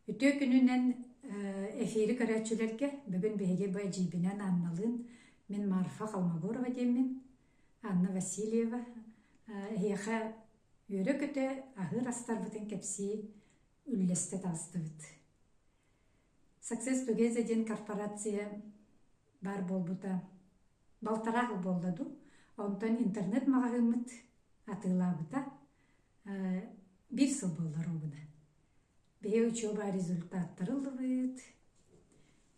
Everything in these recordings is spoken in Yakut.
Үтүө күнүнэн эфири көрөөччүлэргэ бүгүн биһиги бу эдьиийбинэн Анналыын мин Марфа Холмогорова диэммин Анна Васильева эһиэхэ үөрэ-көтө аһыыр астарбытын кэпсии үллэстэ таҕыстыбыт. Success Together диэн корпорация баар буолбута балтараа хыл буолла дуу онтон интернет маҕаһыыммыт атыылаабыта Биир сыл буоллар уобуна. Биһи учуоба результаттары ыллыбыт,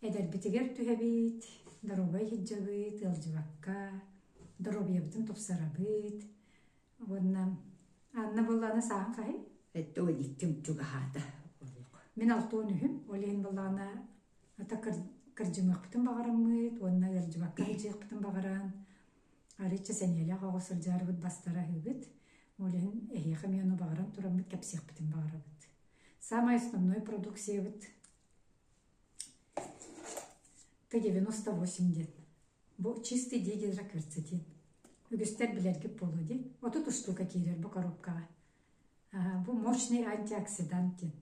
эдэрбитигэр түһэбит, доруобай иһитдьэбит, ыалдьыбакка доруобуйабытын тупсарабыт уонна Анна буоллаана сааһын хаһый? Эттэ ол икким чугаһаата олук. Мин алтуон үһүм, ол иһин буоллаана ата кырдьымыахпытын баҕараммыт уонна ыалдьыбакка сылдьыахпытын баҕаран арычча сэниэлээх оҕо сылдьаарыбыт бастара үһүбүт ол иһин эһиэхэ эмиэ ону баҕаран тураммыт кэпсиэхпитин баҕарабыт саамай основной продукциябыт т девяносто восемь диэн бу чистый дигидрокырца диэн үгүстэр билэргит буолуо дии отут устуука киирэр бу коробкаҕа бу мощный антиоксидант диэн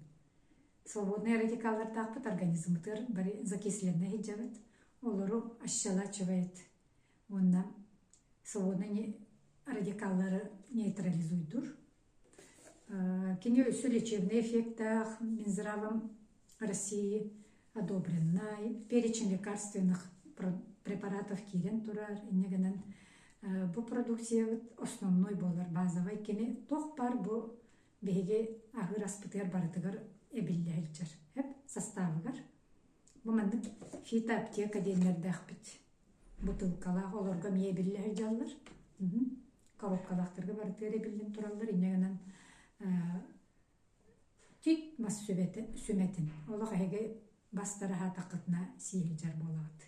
свободнай радикаллардаахпыт организммытыгар бары закисленнэ сылдьабыт олору ощелачивает Уонна солуону радикаллары нейтрализуйдур. Кини өссө лечебнэй эффектаах мин здравом России одобреннай перечень лекарственных препаратов киирэн турар инньэ гынан бу продукциябыт основной буолар базовай кини туох баар бу биһиги аһыыр аспытыгар барытыгар эбиллэ сылдьар састаабыгар бу маннык фитоаптека диэннэрдээхпит бытыылкалаах олорго эмиэ эбиллэһи дьаллар коробкалаахтарга барытыгар эбиллэн тураллар инньэ гынан тик мас сүмэтин олох эһиги бастараһаатаххытына сииһилдьэр буолаҕыт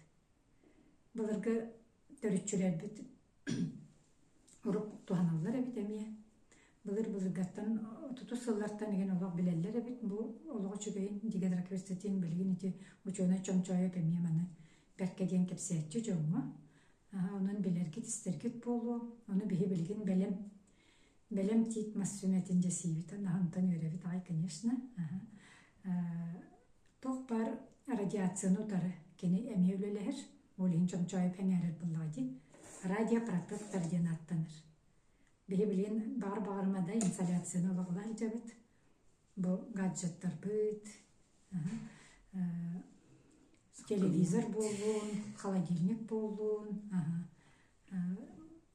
былыргы төрүччүлэрбит Урук туһаналлар эбит эмиэ. Былыр былыргаттан отутус сыллартан иһин олох билэллэр эбит бу олох үчүгэйин дегидрокрестотин билигин ити учуонай чомчоойот эмиэ маны бэркэ диэн кэпсээччи дьоҥҥо. Онон билэргит-истэргит буолуо, ону биһи билигин бэлэм бэлэм тиит мас сүмэтин дьэсиибитин аһынтан үөрэбит аҕай конечно туох баар радиацияны утары кини эмиэ үлэлэһэр Ол иһин чомчоойук эҥээрэр буллаҕа дии. Радио Прокаттор диэн ааттанар. Били билигин баҕар-баҕарыма да инсталляцияны олоҕолоох илдьэбит. Бу гаджеттарбыт, телевизор буоллун, холодильник буоллун,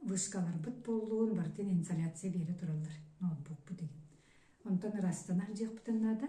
вышкаларбыт буоллун, барытын инсталляция биэрэ тураллар ноутбукпут игин. Онтон ырастанар диэхпитин наада.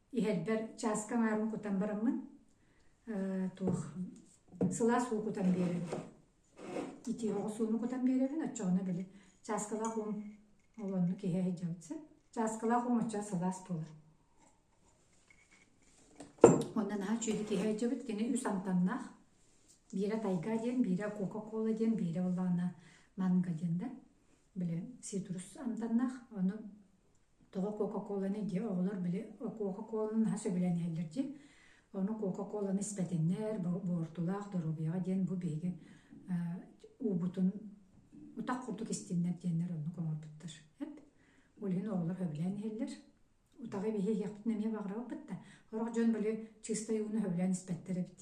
Иһэрбэр чааска аҥаарын кутан бараммын, туох сылаас уу кутан биэрэрбин, итии оҕус ууну кутан биэрэрбин оччоҕуна били чааскалаах уум ол онно киһи сылдьыбыт сөп. Чааскалаах уум оччо сылаас буолар. Онно наһаа үчүгэй киһи сылдьыбыт кини үс амтаннаах. Биирэ тайга диэн, биирэ кока-кола диэн, биирэ улаана манга диэн да. Билэн ситрус амтаннаах ону тоҕо кока-коланы дии оҕолор били кока-коланы наһаа сөбүлээн иһэллэр дии ону кока-коланы испэтиннэр буортулаах доруобуйаҕа диэн бу биһиги уубутун утах курдук истиннэр диэннэр оннук оҥорбуттар эт ол иһин оҕолор сөбүлээн иһэллэр утаҕы биһиэхпитин эмиэ баҕарабыппыт да сорох дьон били чистой ууну сөбүлээн испэттэр эбит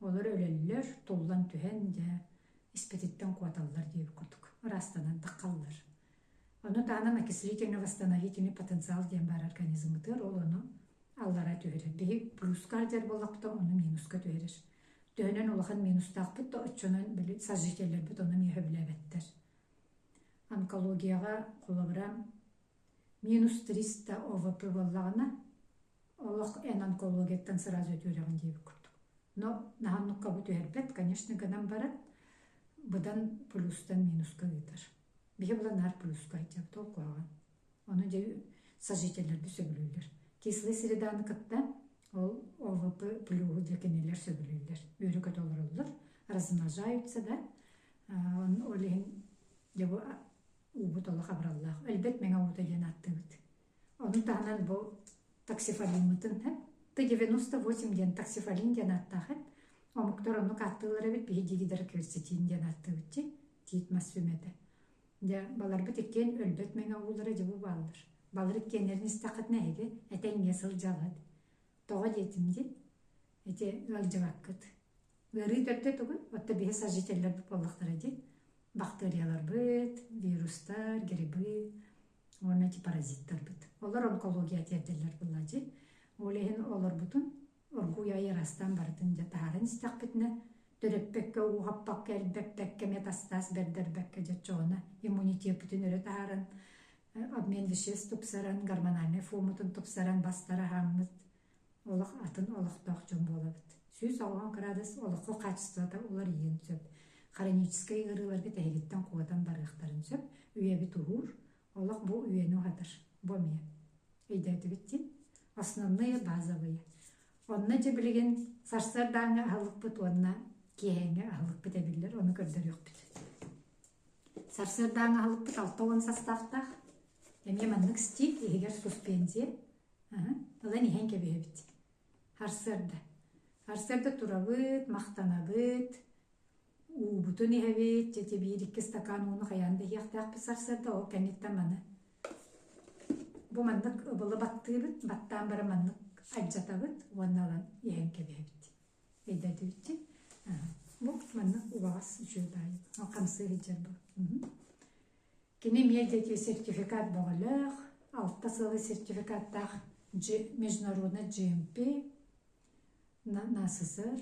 Олор өлөллөр, туллан түһэн дьэ испититтэн куоталлар диир курдук ыраастанан таххаллар. Ону таһынан окислительно восстановительный потенциал диэн баар организммытыгар ол ону аллара түһэрэр. Биһи плюскардер боллохто ону минуска түһэрэр. Төһөнөн улахан минустаахпыт да оччонон били сожительлэрбит ону эмиэ сөбүлээбэттэр. Онкологияҕа холобура минус 300 ОВП боллаҕына олох эн онкологияттан сразу үтүөрэҕин диэбит курдук но наһаннуккабы түһэрбэт конечно гынан баран быдан плюстан минуска ыытар биһи була наар плюска сылдьабыт ол куһаҕан ону дьэ сожительлэрди сөбүлүүллэр кислый среданы кытта ол овп плюһу дьэ кинилэр сөбүлүүллэр үөрүкэ толоруллар размножаются да ол иһин дьэ бу уубут олох абыраллаах өлбөт мэҥэ уута диэн ааттыыбыт Ону таһынан бу таксифалиммытын эт ты девяносто восемь диэн таксифалин диэн ааттаах эт омуктар оннук ааттыыллар эбит биһиги гидро керсетин диэн ааттыыбытчи тиит мас сүмэтэ дьэ баларбыт иккиэн өлбөт мэҥэ уулара дьэ бу бааллар балар иккиэннэрин истэххитинэ эһиги этэ иҥэ сылдьалыт тоҕо диэтим ди ити ыалдьыбаккыт ыарыы төрдө тугуй отто биһи сожителлэр буоллахтара ди бактерияларбыт вирустар грибы уонна ити паразиттарбыт. Олор онкология тиэрдэллэр буолла дьи. Ол иһин олорбутун оргууй айырастан барытын дьэ таһааран истэхпитинэ төрөппөккө ууһаппакка элбэппэккэ метастаз бэрдэрбэккэ дьоччоҕуна иммунитетбытын өрө таһааран обмен веществ тупсаран гормональнай формутун тупсаран бастар аһааммыт олох атын олохтоох дьон буолабыт. Сүүс оҥоһун кыраадыс олоххо хаачыстыбата уларыйыан сөп. Хроническай ыарыыларга тэһигиттэн куотан барыахтарын сөп, үйэбит уһуур, олох бу үйэни уһатар. Бу эмиэ өйдөөтүгүт дии. Основные базовые. Онно дьэ билигин сарсыардааҥҥы аһылыкпыт уонна киэһээҥҥи аһылыкпыт эбиллэр, ону көрдөрүөхпүт. Сарсыардааҥҥы аһылыкпыт алта уон састаахтаах. Эмиэ маннык стиль иһигэр суспензия, ылан иһэн кэбиһэбит арсыарда арсыарда турабыт махтанабыт уубутун иһэбит дьэ биир икки стакан ууну хайаан да иһиэхтээхпит сарсыарда ол кэнниттэн маны бу маннык ыбылы баттыыбыт баттаан бара маннык алдьатабыт уонна ылан иһэн кэбиһэбит өйдөтүбүт бу маннык убаҕас үчүгэй баайы хамсыы сылдьар бу Кини эмиэ диэки сертификат бөҕөлөөх, алта сылы сертификаттаах международный GMP на СССР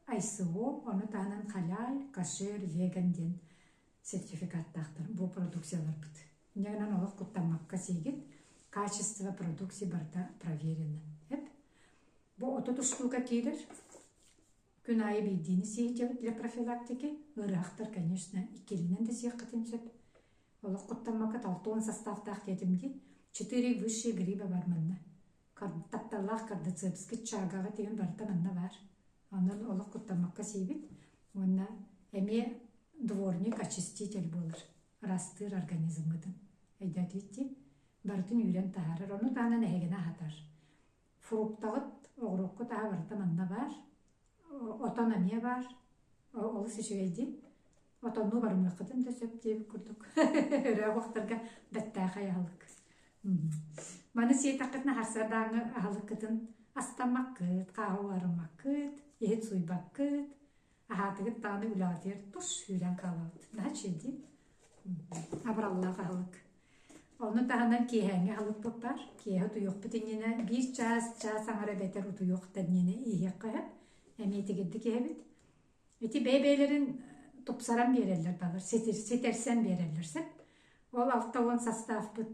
ICO, ону таһынан халаай, кашир, веган диэн сертификаттаахтар бу продукцияларбыт. Инньэ гынан олох куттаммакка сиигит, качество продукции барыта проверено. Эп. Бу отут штука киирэр. Күн аайы биирдиини сиэһдьэбит для профилактики. Ыарыһахтар, конечно, иккилинэн да сиэххитин сөп. Олох куттаммакка талта уон састааптаах диэтим дии. Четыре высшие гриба бар манна. Тапталлаах кардицепский чаагаҕа тигэн барыта манна баар. Онон олох куттаммакка сиибит. Уонна эмиэ дворник, очиститель буолар. Ырастыыр организмгытын. Өйдөөтүйүт дии. Барытын үүрэн таһаарар. Ону таһынан эһигини аһатар. фруктаҕыт оҕуруоккут аһа барыта манна баар отон эмиэ баар олус үчүгэйдик отоннуу барымыаххытын да сөп диэбит курдук өрөөх охторго бэттээхэй аһылык маны сиэтэххитинэ харсардааҥы аһылыккытын астаммаккыт хааһы угарыммаккыт иһит суйбаккыт Аһаатыгыт даҕаны үлэҕитигэр тур сүүрэн хаалабыт. Наһа чэйдиит. Абыраллаах аһылык. Ону таһынан киэһээҥҥи аһылык буппар. Киэһэ утуйуохпут иннинэ биир чаас, чаас аҥара эбэтэр утуйуох да иннинэ иһиэххэ сөп. Эмиэ итигирдик иһэбит. Ити бэйэ-бэйэлэрин тупсаран биэрэллэр, балар ситир, ситэрсэн биэрэллэр сөп. Ол алта уон састаахпыт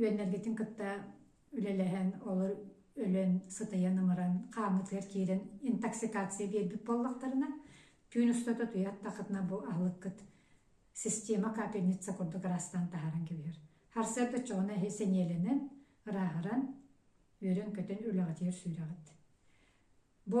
үөннэргитин кытта үлэлэһэн олор өлөн сытыйан ымыран хааммытыгар киирэн интоксикация биэрбит буоллахтарына түүн устата туйаттахытына бу аһылыккыт система капельница курдук ыраастаан таһааран кэбиһэр харсыарда чоҕуна эһи сэниэлэнэн ырааһыран үөрэн көтөн үлэҕитигэр сүүрэҕит бу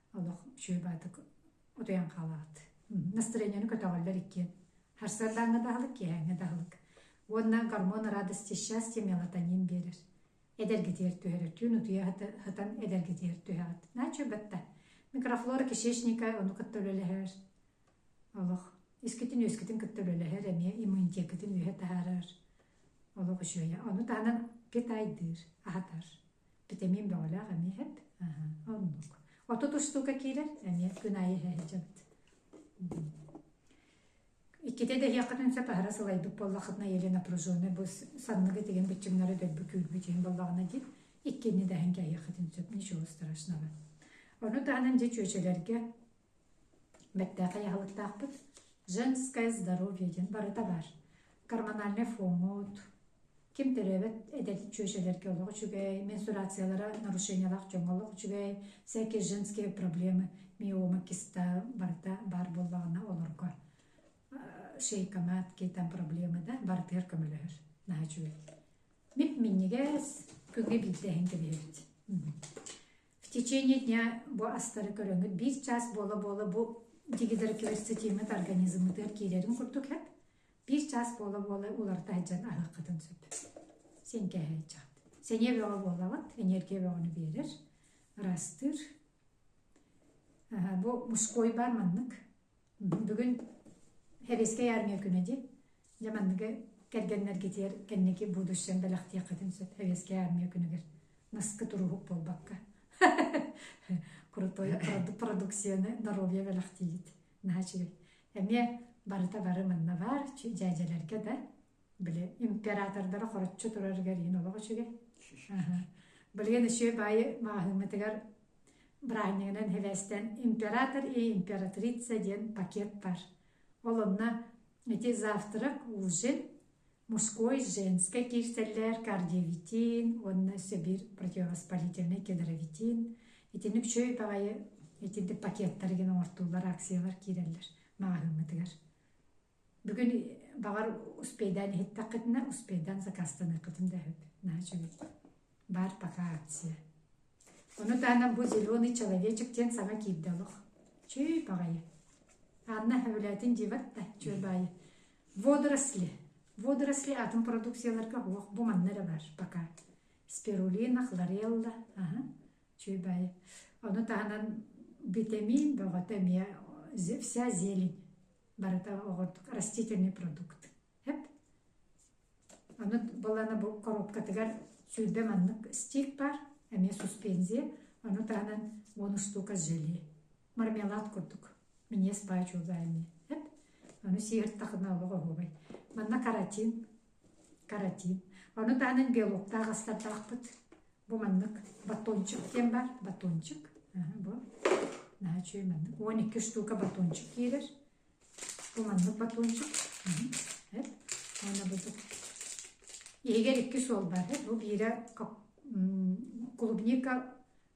олох шүрбаатык утуйан хаалаҕыт настроенияны көтөҕөллөр иккиэн харсыардааҥҥа даһылык киэһээҥҥэ даһылык уонна гормон радости счастья мелатонин биэрэр эдэргитигэр түһэрэтүүн утуйа сытан эдэргитигэр түһэҕит начуйбатта микрофлора кишечника ону кытта үлэлэһэр олох искитин үөскитин кытта үлэлэһэр эмиэ иммунитеккитин үөһэ таһаарар олох үчүөйэ ону таһынан питайдыыр аһатар Витамин бөҕөлөөх эмиэ эт. Оннук. Отут устуука киирэр, эмиэ күн аайы иһэһэчэбит. Иккитэ да эһиэххитин сөп аһара сылайбыт буоллаххытына или напряженный бу санныгы тигин биччиҥнары дөрбү күүрбүт иһин боллаҕына диир иккини даһын кэһиэххитин сөп ничего страшного. Ону таһынан дьэ чүөчэлэргэ Бэртээхэй аһылыктаахпыт «Женское здоровье» диэн барыта баар. Гормональнай фоҥҥут, ким төрөөбөт эдэркий чүөчэлэргэ олох үчүгэй, менструациялара нарушениялаах дьоҥҥо олох үчүгэй, всякие женские проблемы, миома, киста барыта баар буоллаҕына олорго шейкомат, киһи там проблемы да барытыгар көмөлөһөр наһаа үчүгэй. Мип минньигэс, күҥҥэ биирдэ иһин кэбиһэбит. В течение дня бу астары көрөҥүт биир чаас буола-буола бу дигидер кверцетиҥҥит организмытыгар киирэрин курдук эт биир чаас буола-буола уларыта сылдьан аһыаххытын сөп сиэҥкээһээччэхт сэниэ бөҕө буолабыт эниэргия бөҕөнү биэрэр ыраастыыр бу мужской баар маннык бүгүн Хэбискэй армия күнэ ди дьэ манныгы кэргэннэргитигэр кэнники будущем бэлэхтиэххитин сөп Хэбискэй армия күнүгэр наскы туруһук буолбакка крутой продукцияны доруобуйа бэлэхтиигит наачыгый эмиэ барыта бары манна бар дьээдьэлэргэ да били императордара хороччу турарыгар иһин олох үчүгэй былиэн үчүгэй баайы маҕаһыыммытыгар браанньыгынан хевэстэн император и императрица диэн пакет бар ол онно ити завтрак ужин мужской женскай киирсэллэр кардиовитин уонна сэбир противовоспалительный кедровитин итинник үчүгэй баайы итинник пакеттары гин оҥортуулар акциялар киирэллэр маҕаһыыммытыгар бүгүн баҕар успейдаан иһиттэххитинэ успейдаан закастаныаххытын да өһүт наһаа үчүгэй баар пока акция ону таһынан бу зеленый человечек диэн саҥа киирдэ олох чүй баҕайы анна сөбүлээтин дьиибэт да чүөрбаайы водоросли водоросли атын продукцияларга уох бу манна эрэ бар пока спирулина хлорелла аха чүөрбаайы ону таһынан витамин бөҕөтө эмиэ вся зелень барыта оҕордук растительный продукт. Эп. Ону балана бу коробкатыгар сүүрбэ маннык стик бар, эмиэ суспензия, ону таһынан бонус штука с желе. Мармелад курдук. Минес бачуга эми. Эп. Ону сиир тахына олох оһубай. Манна каротин, каратин. Ону таанан белоктаах астардахпыт. Бу маннык батончик диэн бар. Батончик. Бу. Наһаа үчүгэй маннык. Он екі штука батончик киирэр. Бу маннык батончик. Эт. Оны будут. Иһигэр икки суол бар. Эт. Бу биирэ клубника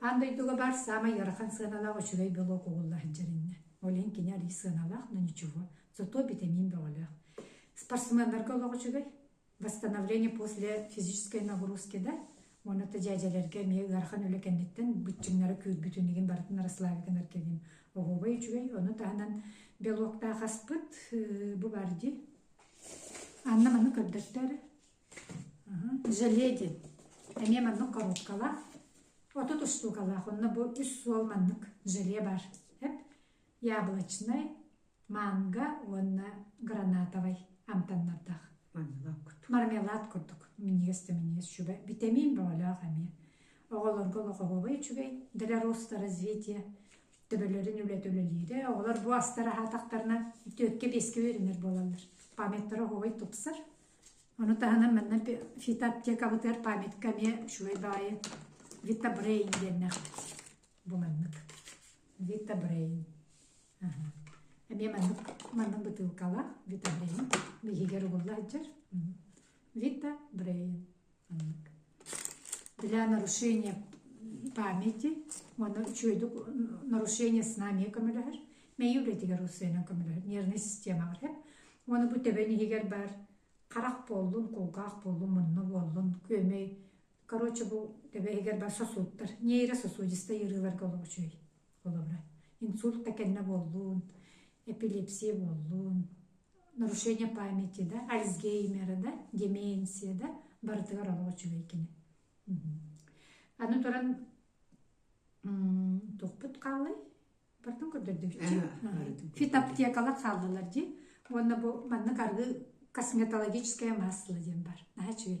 Аан дойдуга баар саамай ыарахан сыаналаах үчүгэй белок угулла сылдьарынна. Ол иһин кини арыый сыаналаах, но ничего. Зато битамин бөҕөлөөх. Спортсменнарга олох үчүгэй. Восстановление после физической нагрузки да уонна дьээдьэлэргэ эмиэ ыарахан үлэ кэнниттэн быччыҥнара күүрбүтүн игин барытын расслаби гынар кэлин оһуобай үчүгэй ону таһынан белоктаах аспыт бу баар ди анна маны көрдөттөр Желеди эмиэ маннык коробкалаах отут устуукалаах онно бу үс суол маннык желе баар эп яблочнай манго уонна гранатовай амтаннардаах мармелад курдук минньигэс да минньигэс сүбэ битэмиин бөҕөлөөх эмиэ оҕолорго лоҕоруобай үчүгэй далероста развитие төбөлөрүн үлэтэ үлэлиирэ оҕолор бу астара аһаатахтарына түөккэ биэскэ үөрэнэр буолаллар памяттара оһуобай тупсар Ону таһынан манна фитоаптекабытыгар памятка эмиэ үчүгэй баҕайы Vita Brain диэннээх бу маннык Vita Brain эмиэ маннык манна бытыылкалаах Vita Brain биһиги угулла сылдьар Vita Brain для нарушения памяти уонна үчүгэйдик нарушение снамия көмөлөһөр мэйи үлэтигэр усуйанан көмөлөһөр нервная система бар уону бу төбөн иһигэр баар харах буоллун кулгаах буоллун мунну буоллун күөмэй короче бу төбө иһигэр бар сосудтар нейрососудистай ыарыыларга олоҕучуй Холобура, инсульт да кэннэ буоллун, эпилепсия буоллун, нарушение памяти, да, Альцгеймера, да, деменция, да, барытыгар олох үчүгэй кини. Аны туран тухпут хаалай бардын көрдөрдүгүчү фитоаптекалар хааллылар ди уонна бу маннык аргы косметологическое масло диэн бар наха үчүгэй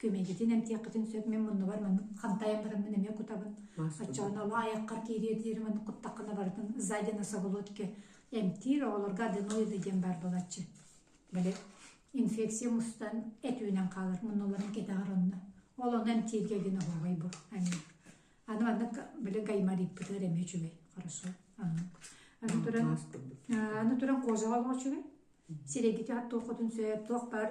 күмэдьитин эмтиэххитин сөп мин муннубар маннык хантайан бараммын эмиэ кутабын оччоҕун оло айаххар киириэ диэри маннык куттаххына барытын зайди на соболотке эмтиир оҕолорго аденоида диэн баар буолаччы бale инфекция мустан этүүнэн хаалар муннуларын кэтэҕэр онно ол ону эмтииргэ диэн оһоҕой бу аны аны маннык били гаймариппытыгар эмиэ үчүгэй хорошо аны туран аны туран кожаҕа олоҕо үчүгэй сирэйгити хат туоххутун сөп туох баар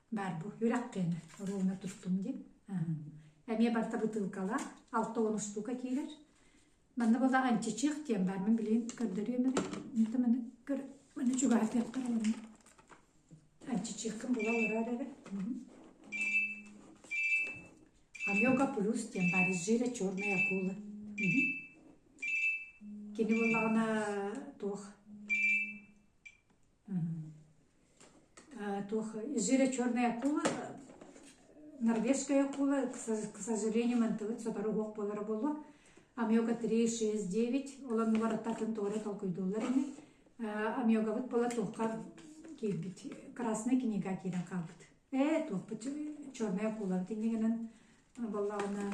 баар бу үрэххиэн оруолуна тустум дим эмиэ барта бытыылкалаах алта он штука киирэр манна была анчичих тиэн бармын билин көрдөрүөмөрө это маны көр маны чугаатыахтар олорно анчичихкын була олорор эрэ Амёга плюс тем баризжира черная акула. Кини боллаҕына туох туох зере черной акула норвежская акула к сожалению мантыбыт сотору уох буолара буолуо амиога три шесть девять олоннулар аттатын туора толкуйдууллар ини амиогабыт була туохха киирбит красная книга киирэн хаалбыт ээ туохпут черная акулабыт иннигинэн боллаҕынан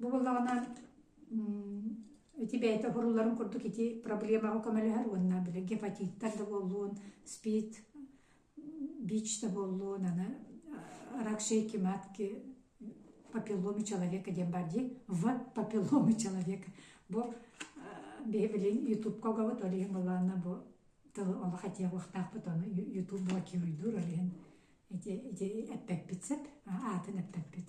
Бу буоллаҕына ити бэйэтэ оһорууларын курдук ити проблемаҕа көмөлөһөр уонна били гепатиттар да буоллун, СПИД, БИЧ да буоллун, аны рак шейки матки папилломи человека диэн баар дии в папилломи человека бу биһивилин ютубка огобут ол иһин былаана бу тылы оло хотиягуохтаахпыт ону ютуб блокируйдуур ол иһин ити ити эппэппит сеп аатын эппэппит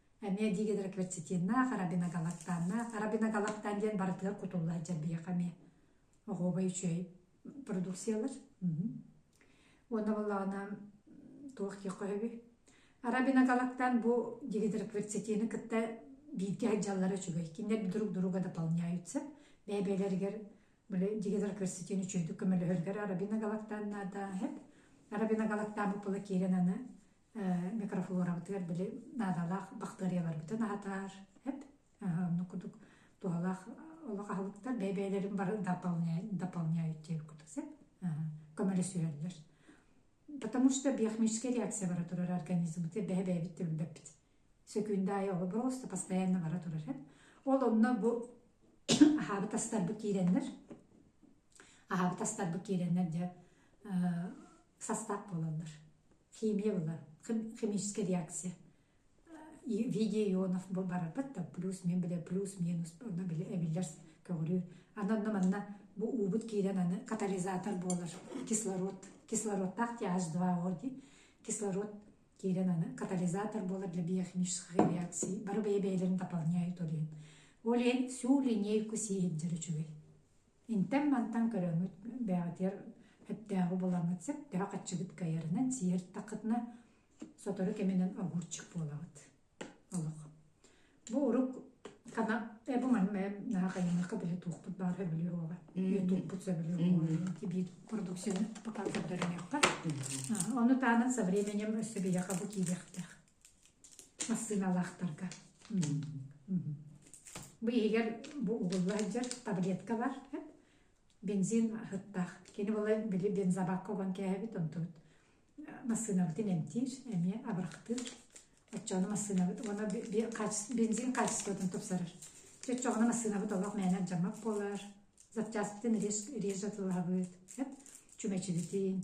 эмиэ дигидрокверцетиннаах арабиногалактаннаах арабиногалактан диэн барытыгар кутулла сылдьар биһиэхэ эмиэ оҕуобай үчүгэй продукциялар уонна буоллаҕына туох диэххэ сөбүй арабиногалактан бу дигидрокверцетины кытта бииргэ сылдьаллара үчүгэй кинилэр друг друга дополняют сөп бэйэ-бэйэлэригэр били дигидрокверцетин үчүгэйдик көмөлөһөрүгэр арабиногалактан наада сөп арабиногалактан бу пула киирэн аны микрофлорабытыгар били наадалаах бактерияларбытын аһатаар эп онну кудук туһалаах олох аһылыктар бэйэ-бэйэлэрин бары дополняютиэбиккут сеп көмөлөсүрөллөр потому что биохимическая реакция бара турар организмбыты бэһэ-бэйэбит төвбөппүт сөкүүндэ айы олобороста постоянно бара турар эп ол онно бу аһаабыт астарбыт киирэннэр аһаан тастарбыт киирэннэр дьэ састаап буолаллар химия булар химическая реакция в виде ионов барарбыт да плюс мен биле плюс минус онно били эбиллэр көҕүрүү аны онно манна бу уубут киирэн аны катализатор буолар кислород кислородтаах th два о ди кислород киирэн аны катализатор буолар для биохимической реакции бары бэйэ бэйэлэрин дополняют ол иһин сүү линейку сииһирдэр үчүгэй Интэн-мантан көрөҥҥүт бээҕитигэр сөптөөҕү булаҥҥыт сөп, төһө хаччыгыт кайарынан, сиһэртаххытына, сотору кэминэн огурчук буолаҕыт. Олох. Бу урук хана э бу ман наһаа хайыҥнахха да туохпут баар сөбүлүө уола. Ютубпут сөбүлүө уола. Тибит продукцияны пока көрдөрүнүөххэ. Ону таанан со временем өссө биһиэхэ бу киириэхтээх. массыыналаахтарга бу иһигэр бу угулла сылдьар таблетка бар бензин аһыттаах кини була били бензобакка уган кээһэбит онтубут массыынабытын эмтиир эмиэ абырахтыыр оччоҕуна массыынабыт уонна бензин хаачыстыбатын тупсарар чэ оччоҕуна массыынабыт олох мээнэ алдьаммат буолар запчаспытын режэ тылаһабыт чүмэчибитин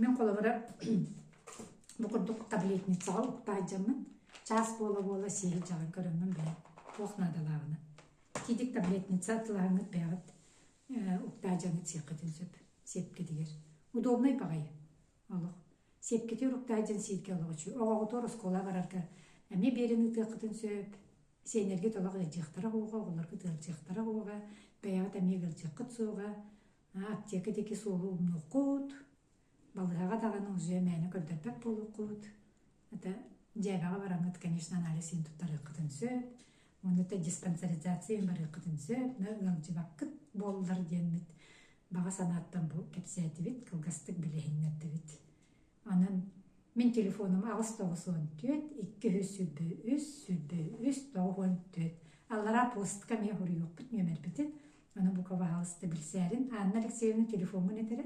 Мен холобура бу курдук таблетницаҕа уктаадьаммын чаас буола-буола сиһи дьаҕан көрөммүн билэн туох наадалааҕына. Кидик таблетница атылааҥҥыт бэҕэт уктаадьаҥҥыт сиэххитин сөп сиэпкитигэр. Удобнай баҕайы олох. Сиэпкитигэр уктаадьан сииргэ олоҕучу. Оҕоҕутугар оскуола барарга эмиэ биэрин ытыаххытын сөп. Сиэннэргит олох ыалдьыахтара уоҕа, оҕолоргут ыалдьыахтара уоҕа, бэйэҕит эмиэ ыалдьыаххыт суоҕа. Аптека диэки суолу умнуоххут, балыһаҕа даҕаны музей мээнэ көрдөрбөт буолуоххут. Ата дьээбэҕэ бараҥҥыт, конечно, анализ иһин туттарыаххытын сөп. Уонна да диспансеризацияны барыаххытын сөп, да ыалдьыбаккыт буоллар диэммит баҕа санааттан бу кэпсээтибит, кылгастык билиһиннэрдибит. Онон мин телефоном аҕыс тоҕус уон түөрт икки үс сүүрбэ үс сүүрбэ үс тоҕус уон түөрт аллараа посткам я хоруйуохпут нүөмэрбитин ону бу пожалуйста билсээрин Анна Алексеевна телефоммун этэрэ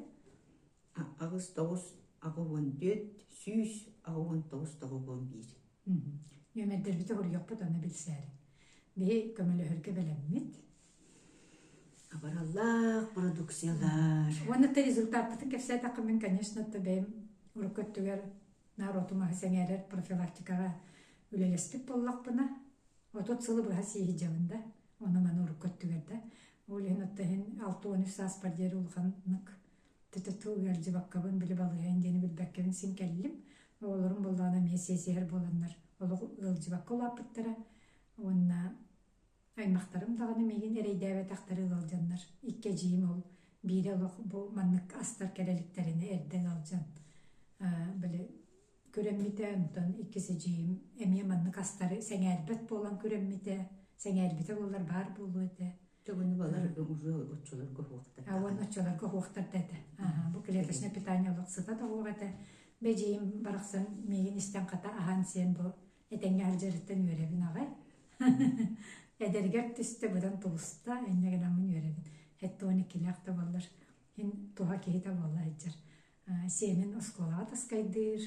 аҕыс тоҕус аҕа уон түөрт сүүс аҕа уон тоҕус тоҕус уон биир нөмэрдэрбити хоруйуохпут ону билсээрин биһи көмөлөһөргө бэлэммит Абараллаах продукциялар. Уонна ты результатпытын кэпсээтэххэ мин, конечно, то бэйим урукку өттүгэр норуотум аһы сэҥээрэр профилактикаҕа үлэлэспит буоллахпына, отут сылы быһа сииһидьэбин да, ону маны урукку өттүгэр да, ол иһин отто иһин алты уон үс сааспар диэри улаханнык ТТТУ ыалдьыбаккабын, били балыһайын диэни билбэккэбин син кэллим. Оҕолорум буоллаҕына эмиэ сиэсиһэр буоланнар олох ыалдьыбакка улааппыттара уонна Аймахтарым даҕаны миигин эрэйдээбэтэхтэрэ ыалдьаннар, икки эдьиийим ол биирэ олох бу маннык астар кэлэ иликтэринэ эрдэ ыалдьан били күрэммитэ, онтон иккис эдьиийим эмиэ маннык астары сэҥээрбэт буолан күрэммитэ, сэҥээрбитэ буоллар баар буолуо этэ. Төҥөнү баларга уже оччолорго оһуохтар. А уон оччолорго оһуохтар да этэ. Аһа, бу клеточное питание олох сыта да оһуох этэ. Бэдьиийим барахсан миигин истэн хата аһаан сиэн бу Этэҥҥэ алдьарыттан үөрэбин аҕай. Эдэргэр түстэ быдан тулуста, инньэ гынаммын үөрэбин. Эттэ уон иккилээх да буоллар, иһин туһа киһитэ буолла сылдьар. Сиэнин оскуолаҕа таскайдыыр.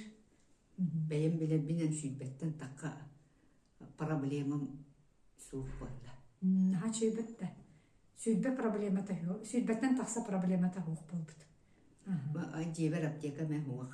Бэйэм билэрбин үҥсүйбэттэн такка проблемам суох буолла. Наһаа сүүйбэт да. Сүүйбэт проблемата суох. Сүүйбэттэн тахса проблемата суох буолбут. Дьиэбэр аптека эмэ суох.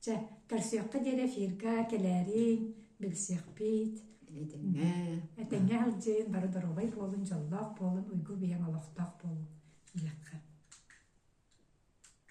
Чэ, көрсүөххэ диэри эфирга кэлээриҥ, билсиэхпит. Этэҥҥэ. Этэҥҥэ сылдьыҥ, бары доруобай буолун, дьоллоох буолун, уйгу биһиэҥ олохтоох буолун. Диэххэ.